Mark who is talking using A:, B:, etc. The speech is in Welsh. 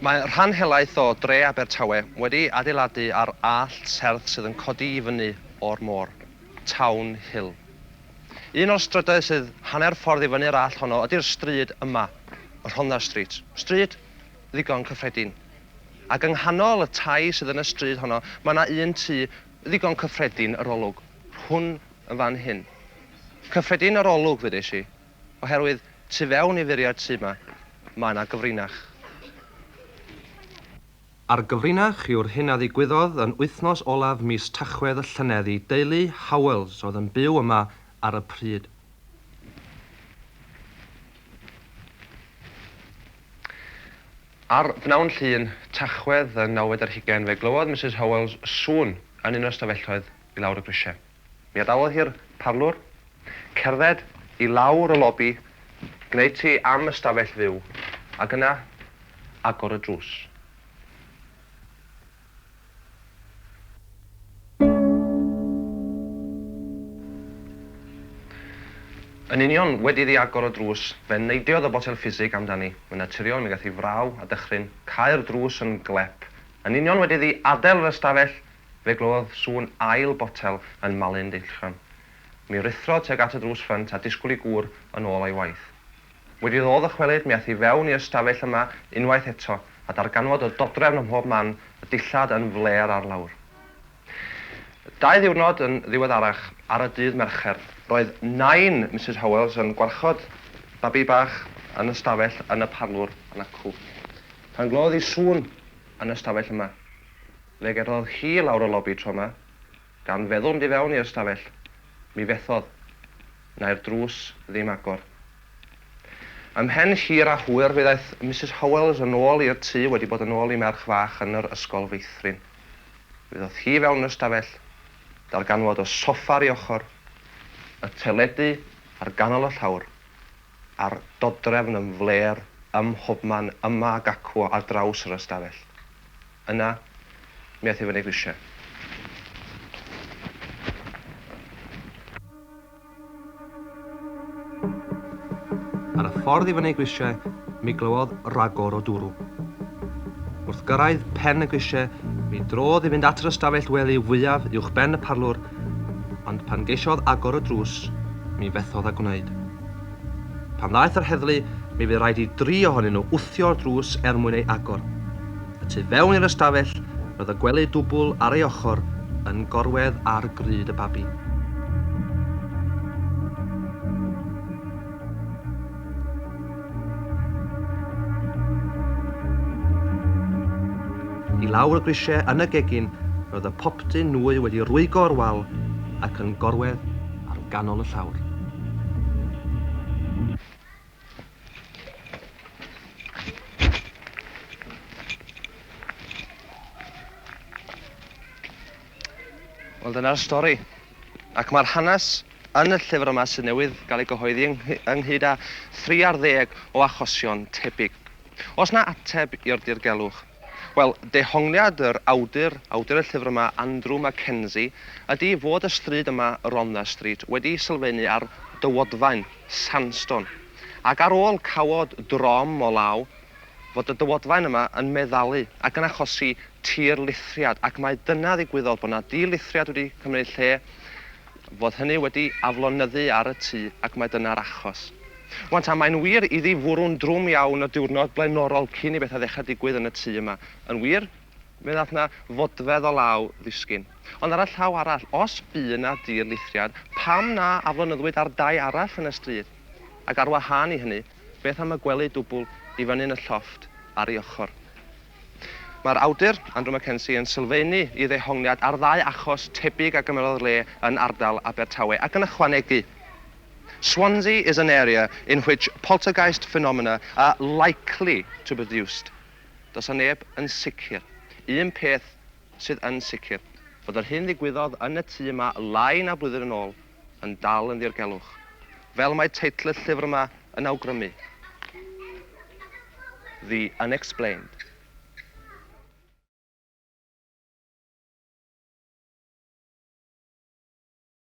A: Mae rhan helaeth o dre Abertawe wedi adeiladu ar allt serth sydd yn codi i fyny o'r môr, Town Hill. Un o'r strydoedd sydd hanner ffordd i fyny'r allt honno ydi'r stryd yma, y Rhondda Street, stryd ddigon cyffredin. Ac yng nghanol y tai sydd yn y stryd honno mae 'na un tŷ ddigon cyffredin, yr olwg, rhwn yn fan hyn. Cyffredin yr olwg ddeudais i, oherwydd tu fewn i furiau'r tŷ 'ma, mae 'na gyfrinach. A'r gyfrinach yw'r hyn a ddigwyddodd yn wythnos olaf mis Tachwedd y llynedd i deulu Howells oedd yn byw yma ar y pryd. Ar bnawn Llun, Tachwedd y nawfed ar hugain fe glywodd Misus Howells sŵn yn un o'r stafelloedd i lawr y grisiau. Mi adawodd hi'r parlwr, cerdded i lawr y lobi, gwneud ti am ystafell fyw, ac yna agor y drws. Yn union wedi iddi agor y drws, fe neidiodd y botel ffisig amdani. Yn naturiol, mi gath hi fraw a dychryn, cau'r drws yn glep. Yn union wedi iddi adael yr ystafell, Fe glywodd sŵn ail botel yn malu'n deillgan. Mi ruthrodd tuag at y drws ffrynt a disgwyl i gŵr yn ôl o'i waith. Wedi iddo ddychwelyd, mi aeth i fewn i'r stafell yma unwaith eto, a darganfod y dodrefn ym mhob man, y dillad yn flêr ar lawr. Dau ddiwrnod yn ddiweddarach, ar y dydd Mercher, roedd nain Misus Howells yn gwarchod babi bach yn y stafell yn y parlwr yn acw, pan glywodd hi sŵn yn y stafell yma. Fe gerdded hi i lawr y lobi tro 'ma, gan feddwl mynd i fewn i'r ystafell. Mi fethodd. Na'i'r drws ddim agor. Ymhen hir a hwyr fe ddaeth Misus Howells yn ôl i'r tŷ wedi bod yn ôl i merch fach yn yr ysgol feithrin. Mi ddoth hi i fewn yn ystafell, darganfod y soffa ar ei ochr, y teledu ar ganol y llawr, a'r dodrefn yn flêr ym mhobman yma ac acw ar draws yr ystafell. Yna, mi aeth hi fyny grisiau. Ar y ffordd i fyny grisiau, mi glywodd ragor o dwrw. Wrth gyrraedd pen y grisiau, mi drodd i fynd at yr ystafell wely fwyaf uwchben y parlwr, ond pan geisiodd agor y drws, mi fethodd â gwneud. Pan ddaeth yr heddlu, mi fu raid i dri ohonyn nhw wthio'r drws er mwyn ei agor. Y tu fewn i'r ystafell, roedd y gwely dwbl ar ei ochr yn gorwedd ar grud y babi. I lawr y grisiau yn y gegin, roedd y popty nwy wedi rwygo o'r wal ac yn gorwedd ar ganol y llawr. Wel dyna'r stori. Ac mae'r hanes yn y llyfr yma sydd newydd gael ei gyhoeddi ynghyd â 30 o achosion tebyg. Os na ateb i'r dirgelwch, Wel, dehongliad yr awdur, awdur y llyfr yma, Andrew Mackenzie, ydi fod y stryd yma, Rhondda Street, wedi sylfeini ar dywodfaen, sandstone, ac ar ôl cawod drom o law, fod y dywodfaen yma yn meddalu ac yn achosi tirlithriad, ac mai dyna ddigwyddodd, bod 'na dirlithriad wedi cymryd lle, fod hynny wedi aflonyddu ar y tŷ ac mai dyna'r achos. Wan ta, mae'n wir iddi fwrw'n drwm iawn y diwrnod blaenorol cyn i bethau ddechrau digwydd yn y tŷ yma. Yn wir, mi ddaeth 'na fodfedd o law ddisgyn. Ond ar y llaw arall, os bu yna dirlithriad, pam na aflonyddwyd ar dai arall yn y stryd? Ac ar wahân i hynny, beth am y gwely dwbl i fyny yn y llofft ar ei ochr? Mae'r awdur, Andrew Mackenzie, yn sylfaenu i ddehongliad ar ddau achos tebyg a gymerodd le yn ardal Abertawe, ac yn ychwanegu, Swansea is an area in which poltergeist phenomena are likely to be produced Does a neb yn sicr. Un peth sydd yn sicr, fod yr hyn ddigwyddodd yn y tŷ yma lai na blwyddyn yn ôl, yn dal yn ddirgelwch, fel mae teitl y llyfr yma yn awgrymu, The Unexplained.